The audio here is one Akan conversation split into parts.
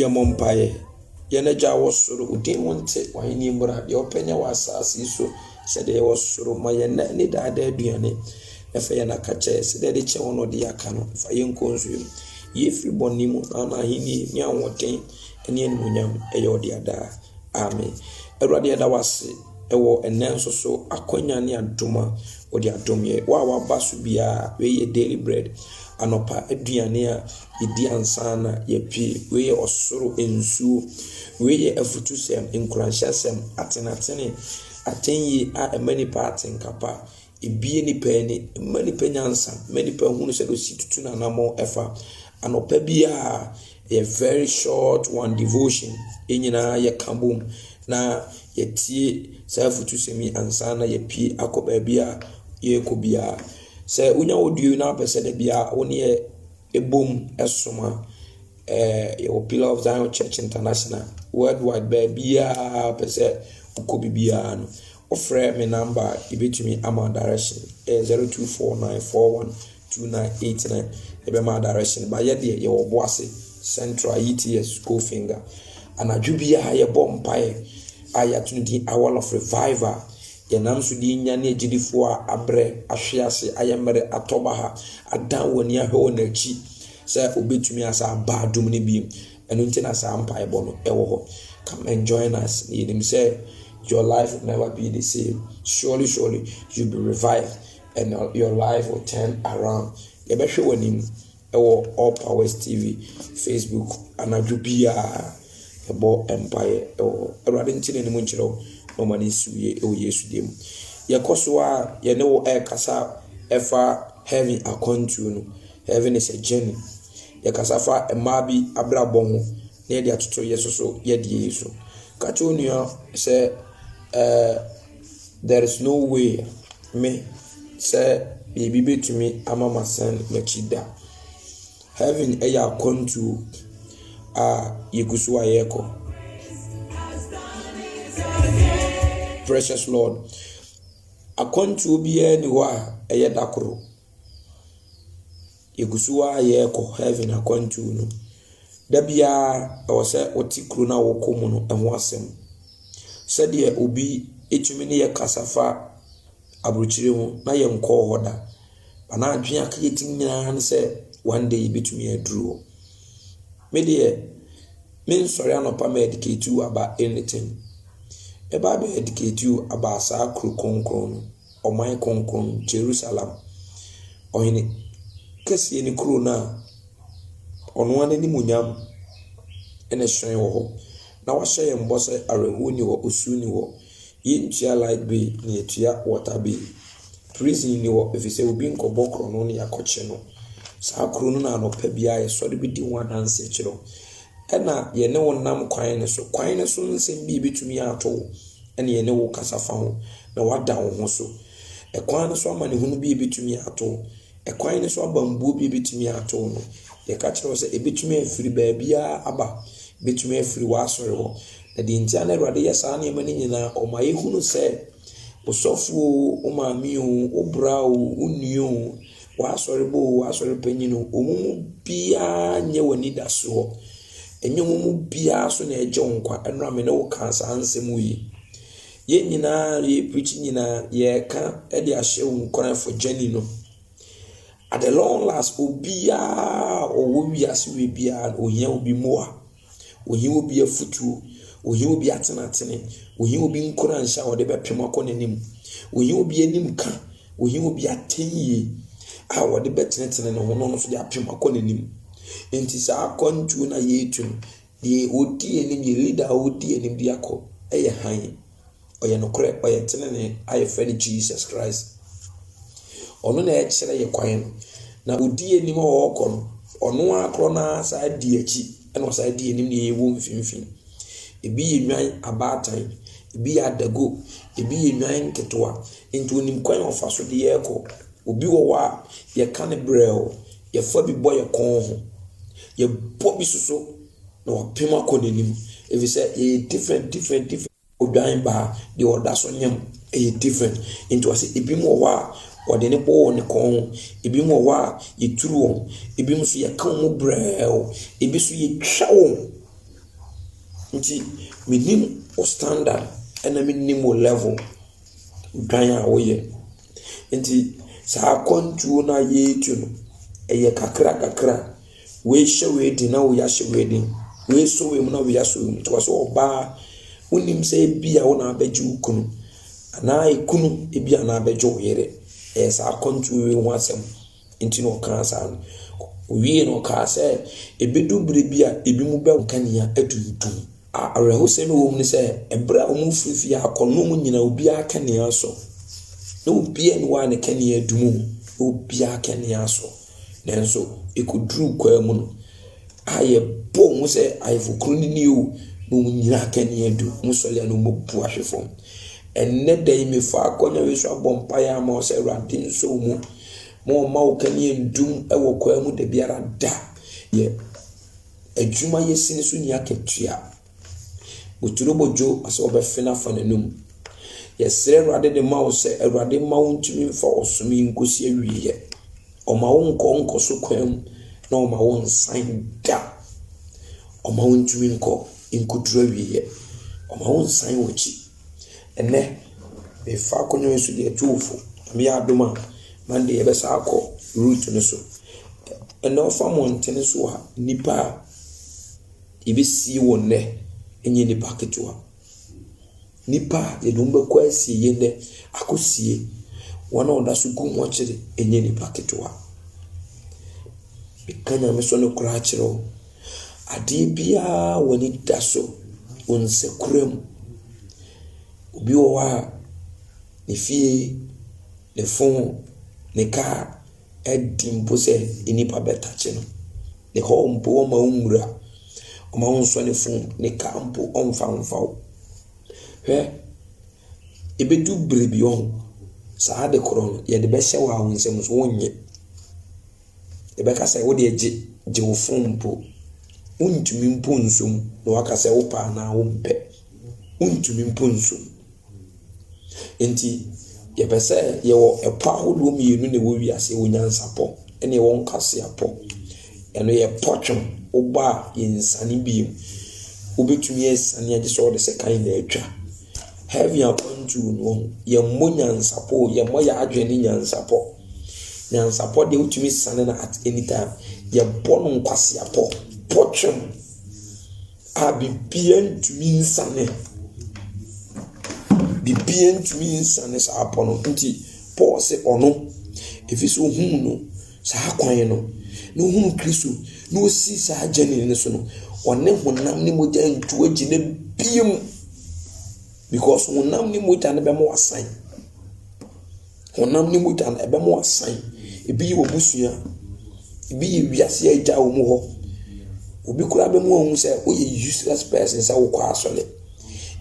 Yɛmmɔ mpaeɛ. Yɛn agya wɔ soro, wo din mu nte, w'ahenni mmra, deɛ wopɛ nyɛ wɔ asase yi so sɛdeɛ ɛwɔ soro. Ma yɛn nna ne daa daa aduane, na fa yɛn aka kyɛ sɛdeɛ ɛde kyɛ wɔn a wɔde yɛ aka no. Fa yɛn nkɔ nsuo mu, yi yɛn firi bɔne mu, na ama ahennie ne ahoɔden ne animuonyam yɛ wo dea daa. Amen. Awurade, yɛda wo ase wɔ ɛnnɛ nso so akwanya ne adom a wode adom yɛ. Wo a waba so biara, wei yɛ daily bread, anɔpa aduane a yɛdi ansa na yɛpie. Wei yɛ ɔsoro nsuo. Wei yɛ afutusɛm, nkuranhyɛsɛm, atenatene, atɛnyie a ɛma nipa atenka pa. Ebue nnipa ani, ɛma nnipa nyansa, ɛma nnipa hunu sɛdeɛ ɔsi tutu n'anammɔn ɛfa. Anɔpa biara, ɛyɛ very short one devotion, yɛn nyinaa yɛka bom na yɛtie saa afutusɛm yi ansa na yɛpue akɔ baabi a yɛrekɔ biara. Sɛ wonya audio yi na wopɛ sɛ da biara wo ne yɛ ɛbom ɛsom a, ɛɛ yɛwɔ Pillar of Zion Church International worldwide baabiara pɛ sɛ wokɔ biribiara no Wofrɛ me number a yɛbɛtumi ama wo direction ɛyɛ zero two four nine four one two nine eight nine yɛbɛma wo direction ba yɛ deɛ yɛwɔ Boase Central ETS Gold Finger anadwo biara yɛbɔ mpaeɛ a yɛato no din Hour of Revival yɛnam so de nya ne agyidifoɔ a abrɛ ahwe ase ayɛ mmerɛ atɔ baha adan wɔn ani ahwɛ wɔn akyi sɛ obɛtumi asa aba adom no bi Ɛno nti na saa mpaebɔ no ɛwɔ hɔ. Come and join us. Na yɛnim sɛ your life will never be the same. Surely, surely, you'll be revived and your life will turn around. Yɛbɛhwɛ w'anim ɛwɔ All Powers TV Facebook anadwo biara. Yɛbɔ mpaeɛ ɛwɔ hɔ. Awurade nti na anim nkyerɛ wo na ɔma ne nsi wie ɛwɔ Yesu deɛ mu. Yɛkɔ so a yɛne wo ɛrekasa ɛfa heaven akwantuo no. Heaven is a journey. Yɛkasa fa mmaa bi abrabɔ ho na yɛde atoto yɛn soso yɛdeɛ yi so. Ka kyerɛ onua sɛ ɛɛ there is no way me sɛ biribi bɛtumi ama masan m'akyi da. Heaven yɛ akwantuo a yɛgu so a yɛrekɔ. Precious Lord, akwantuo biara ni hɔ a ɛyɛ da koro. Yɛgu so ara yɛ rekɔ heaven akwantuo no, da biara ɛwɔ sɛ wote kuro no a wokɔ mu no ho asɛm. Sɛdeɛ obi tumi ne yɛ kasa fa aburokyire ho na yɛnkɔɔ hɔ da. Anaa adwene a yɛtumi nya ara ne sɛ one day yɛbɛtumi aduru hɔ. Me deɛ, mensɔre anɔpa ma educate you about anything. Mɛba abɛ educate you about saa kuro kronkron no. ɔman kronkron, Jerusalem, Ɔhene kɛseɛ ne kuro no a ɔno ara n'animuonyam na ɛhyerɛn wɔ hɔ. Na wahyɛ yɛn bɔ sɛ awerɛhoɔ nni hɔ, osuo nni hɔ. Yɛntua light bill na yɛtua water bill. Prison nni hɔ ɛfiri sɛ obi nkɔbɔ korɔno na yɛakɔkye no. Saa kuro no na anɔpa biara yɛsɔre bɛdi ho adanseɛ kyerɛ wo. Ɛna yɛne wo nam kwan no so. Kwan no so nsɛm bi a ɛbɛtumi ato wo na yɛne wo kasa fa ho, na woada wo ho so. Ɛkwan no so amanehunu bi a ebetumi ato wo, ɛkwan no so abambuo bi a ebetumi ato wo no, yɛka kyerɛ wo sɛ ebetumi afiri baabiara aba, ebetumi afiri w'asɔre hɔ. Na deɛ nti a na Awurade yɛ saa nneɛma no nyinaa, ɔma yɛhunu sɛ, wo sɔfo o, wo maame o, wo bra o, wo nua o, w'asɔrebɔ o, w'asɔre panyin o, wɔn mu biara nyɛ w'anidasoɔ. Ɛnyɛ wɔn mu biara so na ɛregye wo nkwa ɛnora me ne wo kaa saa nsɛm yi. Yɛn nyinaa yɛreprikyi nyinaa yɛreka de ahyɛ wo nkuran for journey no. At the long last obiara ɔwɔ wiase wei biara ohia obi mmoa. Ohia obi afutuo. Ohia obi atenatene. Ohia obi nkuranhyɛ a ɔde bɛpem akɔ n'anim. Ohia obi anim ka. Ohia obi atɛnyie a ɔde bɛtenetene ne ho na ɔno nso de apem akɔ n'anim. Enti saa akwantuo no a yɛretu no, deɛ ɔdi anim, yɛn leader a ɔdi anim de akɔ yɛ hann. Ɔyɛ nokorɛ, ɔyɛ tenenee a yɛfrɛ no Jesus Christ. Ɔno na ɛkyerɛ yɛ kwan no. Na ɔdi anim a ɔrekɔ no, ɔno ara korɔ no ara saa di akyi na ɔsan di anim na yɛwɔ mfimfini. Ebi yɛ nnwan abaatan, ebi yɛ adago, ebi yɛ nnwan nketewa. Nti ɔnim kwan a ɔfa so de yɛn rekɔ. Obi wɔ hɔ a, yɛka no brɛoo. Yɛfa bi bɔ yɛn kɔn ho. Yɛbɔ bi nso so na wapem akɔ n'anim. Ɛfiri sɛ yɛyɛ different different different. Odwan baa deɛ ɔda so nyam ɛyɛ different. Nti ɔse ebinom wɔ hɔ a wɔde ne bɔ wɔn kɔn ho. Ebinom wɔ hɔ a yɛturu wɔn. Ebinom nso yɛka wɔn mu brɛɛw. Ebi nso yɛtwa wɔn. Nti menim wo standard ɛna menim wo level. Odwan a woyɛ. Nti saa akwantuo no a yɛretu no, ɛyɛ kakra kakra. Wei hyɛ wei den na wei ahyɛ wei den. Wei sɔ wei mu na wei asɔ wei mu. Nti wɔse ɔbaa, wonnim sɛ ebia wo na abɛgye wo kunu anaa ekunu ebia na abɛgye wo yere. Ɛyɛ saa akwantuo wei ho asɛm. Nti na ɔkaa saa no. Owiee no, ɔkaa sɛ, Ɛbɛdu berɛ bi a ebinom bɛwo nkanea atuutuu. A Awerɛhosɛm a ɛwɔ mu ne sɛ, ɛberɛ a wɔrefiri fie akɔ no, wɔnnyina obiara kanea so. Ná obiara nni hɔ a ne kanea dum o, ná obiara kanea so. Nanso ɛkɔduruu kwan mu no, a yɛbɔɔ wɔn sɛ Ayeforɔkunu no nie o, na wɔnyinaa kanea du. Wɔsɔre a na wɔabu ahwe fam. Ɛnnɛ da yi, mefaa akɔnnɔ wei so abɔ mpaeɛ ama wo sɛ, Awurade nsɔ wo mu. Ma ɔmma wo kanea ndum wɔ kwaa mu da biara da. Yɛ adwuma yɛ sini so ni akatua. Boturo bodwo asɛ ɔbɛfe no afa n'anum. Yɛsrɛ Awurade de ma wo sɛ Awurade mma wo ntumi mfa ɔsom yi nkosi awieɛ. Ɔma wo nkɔ nkɔso kwaa mu na ɔma wo nsan da. Ɔma wo ntumi nkɔ nkɔduru awieɛ. Ɔma wo nsan w'akyi. Ɛnnɛ, mefa akonnwa yi so de atu wo fo. Nyame yɛ adom a, Monday yɛbɛsan akɔ route no so. Ɛnnɛ wofa mmɔntene so a, nnipa a yɛbɛsie wɔn nnɛ nyɛ nnipa ketewa. Nnipa a yɛde wɔn bɛkɔ asieeɛ nnɛ, akɔsie wɔn a wɔda so gu mu akyere nyɛ nnipa ketewa. Meka Nyame so no koraa kyerɛ wo. Adeɛ biara a w'ani da so, wo nsa kura mu. Obi wɔ hɔ a, ne fie, ne fon, ne kaa adi mpo sɛ nnipa bɛtakye no. Ne hɔ mpo wɔmma wo nwura. Wɔmma wo nsɔ ne fon, ne kaa mpo wɔmfa mfa wo. Hwɛ, ɛbɛdu berɛ bi, saa ade korɔ no, yɛde bɛhyɛ wo a, wo nsam nso wonnye. Yɛbɛka sɛ wodeɛ gye gye wo phone mpo wontumi mpo nso mu na waka sɛ wopɛ anaa wompɛ wontumi mpo nso mu nti yɛpɛ sɛ yɛwɔ ɛpɔ ahodoɔ mmienu na ɛwɔ wiase ɛwɔ nyansapɔ ɛna ɛwɔ nkwaseapɔ ɛno yɛ pɔ twom woba a yɛnsane bio wobɛtumi asane agye sɛ wɔde sekan na atwa Heavy akwantuo no yɛmmɔ nyansapɔ o, yɛmmɔ yɛn adwene ne nyansapɔ. Nyansapɔ deɛ wotumi sane no at any time. Yɛbɔ no nkwaseapɔ, bɔtwɛm a biribiara ntumi nsane. Biribiara ntumi nsane saa pɔ no. Nti Paul se ɔno, ɛfiri sɛ ɔhunuu no. Saa kwan no, na ohunu Kristo na osi saa gyani no so no, ɔne honam ne mogya ntu agyina bio mu. Because honam ne mogya no bɛma wasan. Honam ne mogya no ɛbɛma wasan. Ebi yɛ w'abusua, ebi yɛ wiase a agya wɔn hɔ. Obi koraa bɛma wahu sɛ woyɛ useless person sɛ wokɔ asɔre.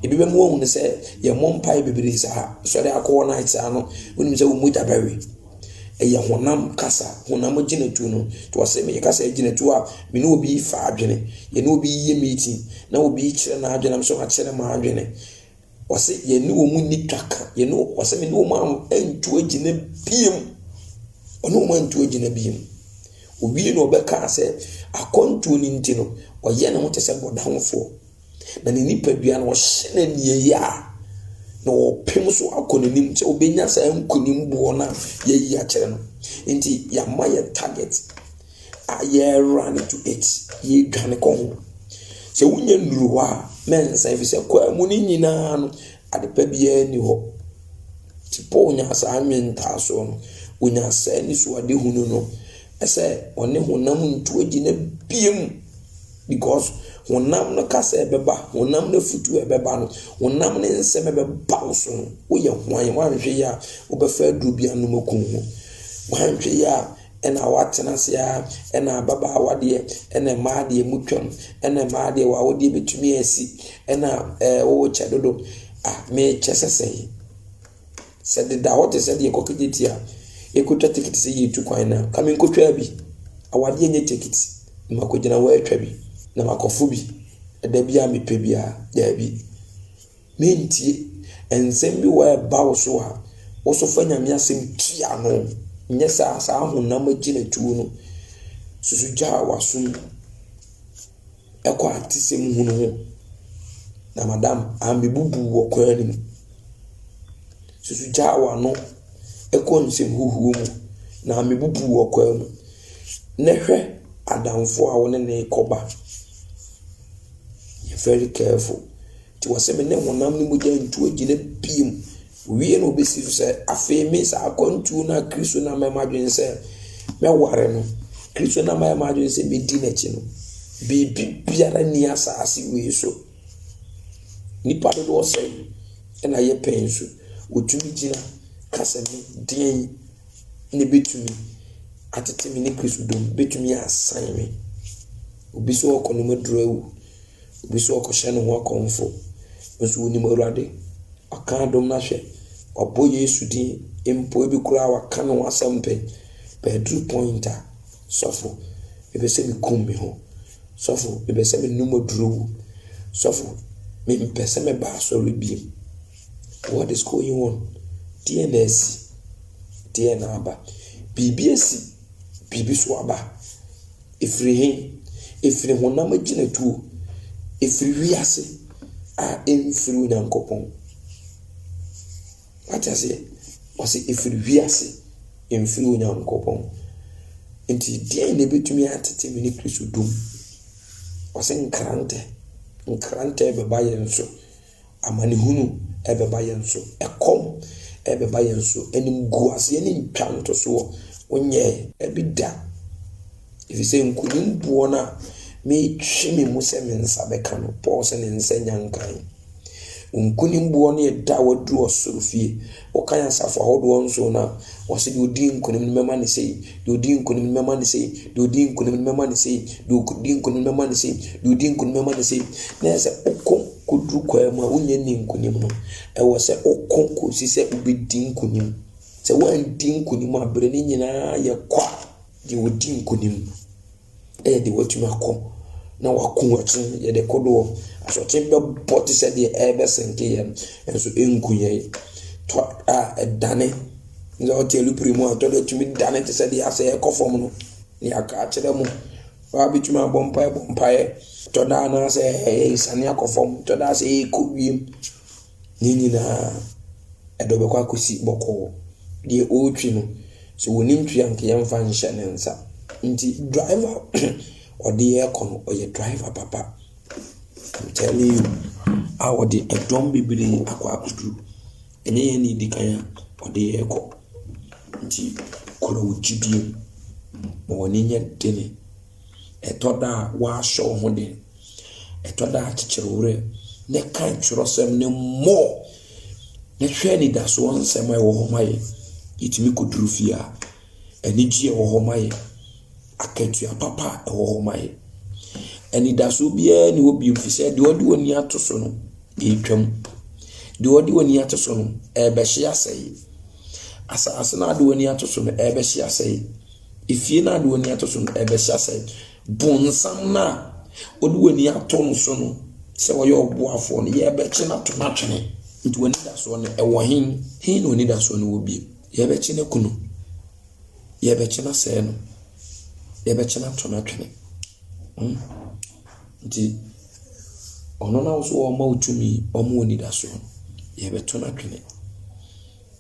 Ebi bɛma wahu no sɛ yɛmmɔ mpaeɛ bebree saa, sɔre ara kɔ all night saa no, wonim sɛ wo mogya bɛwe. Ɛyɛ honam kasa, honam agyinatuo no. Nti ɔse meyɛ kasa agyinatuo a me ne obi fa adwene. Yɛne obi yɛ meeting na obi kyerɛ n'adwene na me nso makyerɛ m'adwene. Ɔse yɛne wɔn nni twaka, yɛne wɔn, ɔse mene wɔn a ɛntu agyina biem. Ɔne wɔn antu agyina biem. Owie na ɔbɛkaa sɛ akwantuo no nti no, ɔyɛ ne ho te sɛ bɔdamfoɔ. na ne nipadua no ɔhyɛ no aniɛyaa na ɔpem so akɔ n'anim sɛ ɔbɛnya saa nkunim boɔ no a yɛayi akyerɛ no nti yɛama yɛ target a yɛra no to it yɛdwane kɔ ho sɛ wonya nnuru hɔ a na nsa ɛfiri sɛ kwaa mu no nyinaa no adepa biara ni hɔ nti paul nyaa saa nwentaasoɔ no ɔnyaa saa nisuadehunu no ɛsɛ ɔne honam ntoagyi no abiem Because honam no kasa a ɛbɛba, honam no afutuo a ɛbɛba no, honam no nsɛm a ɛbɛba wo so no, woyɛ hwan? Woanhwɛ yie a, wobɛfa aduro bi anom aku wo ho. Woanhwɛ yie a, ɛna woatena ase ara, ɛna ababaawa deɛ, ɛna mmaa deɛ motwam, ɛna mmaa deɛ w'awodeɛ bɛtumi asi, ɛna ɛɛ worekyɛ dodo. Ah, mekyɛ sɛ sɛn? Sɛ deda hɔ te sɛ deɛ ɛkɔ Kejetia a, yɛkɔtwa tekiti sɛ yɛretu kwan no a, ka menkɔtwaa bi. Awadeɛ nyɛ tekiti. Na makɔgyina hɔ atwa bi, na makɔfo bi ɛda biara a mepɛ biara. Daabi. Mentie. Nsɛm bi wɔ a ɛba wo so a, wo so fa Nyame asɛm tua ano. Nyɛ saa, saa honam agyinatuo no, susu Gya a w'asom. ɛkɔ atesɛm hunu ho. Na madam amebubu wɔ kwan no mu. Susu gyaa w'ano kɔ nsɛm huhuo mu. Na amebubu wɔ kwan mu. Na hwɛ adamfo a wo ne no rekɔba. Be very careful. Nti ɔse me ne honam ne mogya ntu agyina bio. Owie na ɔbɛsi so sɛ, Afei me saa akwantuo no a Kristo nam ayɛ m'adwene sɛ mɛware no, Kristo nam ayɛ m'adwene sɛ mɛdi n'akyi no, biribi biara nni asaase wei so. Nnipa dodoɔ sɛn na yɛ pɛn so? Wɔtumi gyina ka sɛ me deɛn na ɛbɛtumi atete me ne Kristo dɔ mu, bɛtumi asan me. Obi sɛ ɔkɔ no maduru awu. Obi nso ɔkɔhyɛ ne ho akɔmfo. Nso wonim Awurade. Ɔka adom no ahwɛ. Wabɔ Yesu din mpo. Ebi koraa waka ne ho asɛm pɛn. But aduru point a, sɔfo, mepɛ sɛ mekum me ho. Sɔfo, mepɛ sɛ menom aduro wu. Sɔfo, mempɛ sɛ mɛba asɔre biem. What is going on? Deɛ na asi? Deɛ na aba? Biribi asi. Biribi so aba. Ɛfiri he? Ɛfiri honam agyinatuo. Ɛfiri wiase a ɛmfiri Onyankopɔn. Wate aseɛ? Ɔse ɛfiri wiase ɛmfiri Onyankopɔn. Nti deɛn na ɛbɛtumi atete me ne Kristo dɔ mu? Ɔse nkrantɛ. Nkrantɛ bɛba yɛn so. Amanehunu bɛba yɛn so, ɛkɔm bɛba yɛn so, animguaseɛ ne ntwantosoɔ wonyɛɛ. Bi da, ɛfiri sɛ nkonim boɔ no a metwe me mu sɛ me nsa bɛka no, Paul sɛ ne nsa nya nkan. Wo nkonim boɔ no yɛ da a waduru ɔsoro fie. Wokan asafo ahodoɔ nson no a, wɔse deɛ ɔdii nkonim no mɛma no sei, deɛ ɔdii nkonim no mɛma no sei, deɛ ɔdii nkonim no mɛma no sei, deɛ ɔdii nkonim no mɛma no sei, deɛ ɔdii nkonim no mɛma no sei. Na ɛyɛ sɛ wokɔ kɔduru kwaa mu a, wonyɛ nni nkonim no. Ɛwɔ sɛ wokɔ kɔsi sɛ wobɛdi nkonim. Sɛ woanndi nkonim a, berɛ no nyinaa yɛ kwa deɛ ɔdi nkonim. yɛ deɛ watumi akɔ na wako akyi yɛde kodoɔ asɔkye bɛbɔ te sɛ deɛ ɛrebɛsɛnke yɛn nso ɛnku yɛn tɔ a ɛdane na ɔte alupere mu a tɔ no tumi dane te sɛ deɛ asɛ ɛkɔ fam no ne aka akyerɛ mo waa bɛtumi abɔ mpaeɛ bɔ mpaeɛ tɔ da anaasɛ ɛyɛ asiane akɔ fam tɔ da sɛ ɛkɔ wiem. Ne nyinaa, ɛde ɔbɛkɔ akɔsi bɔkɔɔ. Deɛ ɔretwi no, sɛ ɔnim twi a, nka yɛmfa nhyɛ ne nsa. Nti driver ɔde yɛn rekɔ no, ɔyɛ driver papa. I'm telling you. A ɔde dɔm bebree akɔ akɔduru. Ɛnyɛ yɛn na ɛdi kan a, ɔde yɛn rekɔ. Nti kura wo gyidie. Ma w'ani nyɛ den. Ɛtɔ da a, wɔahyɛ wo ho den. Ɛtɔ da a, kyekyere wo werɛ na kan twerɛsɛm no mmɔ na hwɛ anidasoɔ nsɛm a ɛwɔ hɔ ma yɛ. Yɛtumi kɔduru fie a, anigyeɛ ɛwɔ hɔ ma yɛ. Akatua papa a ɛwɔ hɔ ma yɛ. Anidasoɔ biara nni hɔ bio, ɛfiri sɛ deɛ ɔde w'ani ato so no, ɛretwam. Deɛ ɔde w'ani ato so no, ɛrebɛhye asɛe. Asase no a wode w'ani ato so no, ɛrebɛhye asɛe. Efie no a de w'ani ato so no, ɛbɛhyɛ asɛe. Bonsam no a wode w'ani ato no so no, sɛ ɔyɛ ɔboafoɔ no, yɛbɛkye no ato no atwene. Nti w'anidasoɔ no, ɛwɔ he? He na w'anidasoɔ no wɔ bio? Yɛbɛkye no aku no. Yɛbɛkye no asɛe no. Yɛbɛkye no ato no atwene. Hmm? Nti ɔno na wo so wɔma wo tumi, wɔma wo anidasoɔ no, yɛbɛto no atwene.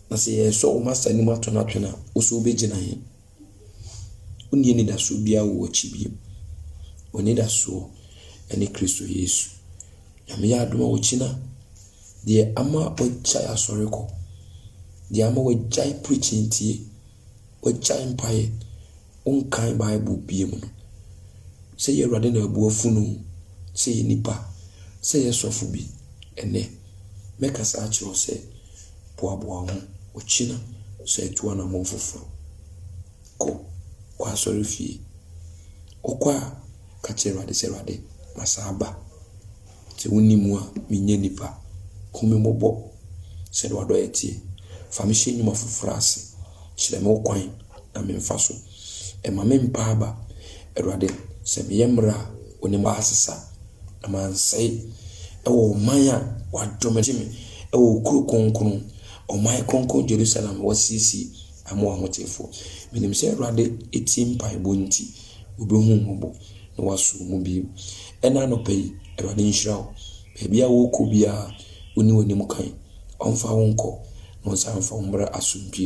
Na sɛ yɛresɔ wo masta anim ato no atwene a, wo so wobɛgyina he? Wonni anidasoɔ biara wɔ w'akyi bio. W'anidasoɔ ne Kristo Yesu. Nyame yɛ adom a wokyi no a, deɛ ama wagyae asɔre kɔ, deɛ ama wagyae preaching tie, wagyae mpaeɛ, Wonkan Bible bio no, sɛ yɛ Awurade na abu afunu, sɛ yɛ nipa, sɛ yɛ sɔfo bi, ɛnɛ, mɛkasa akyerɛ wo sɛ, boaboa wo ho, ɔkyena san tu anammɔn foforo. Kɔ, kɔ asɔrefie. Wokɔ a, ka kyerɛ Awurade sɛ, Awurade, masan aba. Sɛ wonni mu a, menyɛ nnipa. Hu me mmɔbɔ, sɛdeɛ w'adɔeɛ teɛ. Fa me hyɛ nnwuma foforɔ ase. Kyerɛ me wo kwan na memfa so. Mma me mpa aba. Awurade, sɛ meyɛ mmerɛ a, wo ne m'asesa, na mansɛe. Wɔ ɔman a wɔadɔ me, gye me, wɔ wo kuro kronkron, ɔman kronkron Yerusalem a wɔasiesie ama w'ahotefoɔ. Menim sɛ Awurade tie mpaebɔ nti. Obehu wo mmɔbɔ na waso wo mu bio. Ɛna anɔpa yi, Awurade nhyira wo. Baabi a worekɔ biara, onni w'anim kan. Ɔmfa wo nkɔ, na ɔnsan mfa wo mmra asomdwie.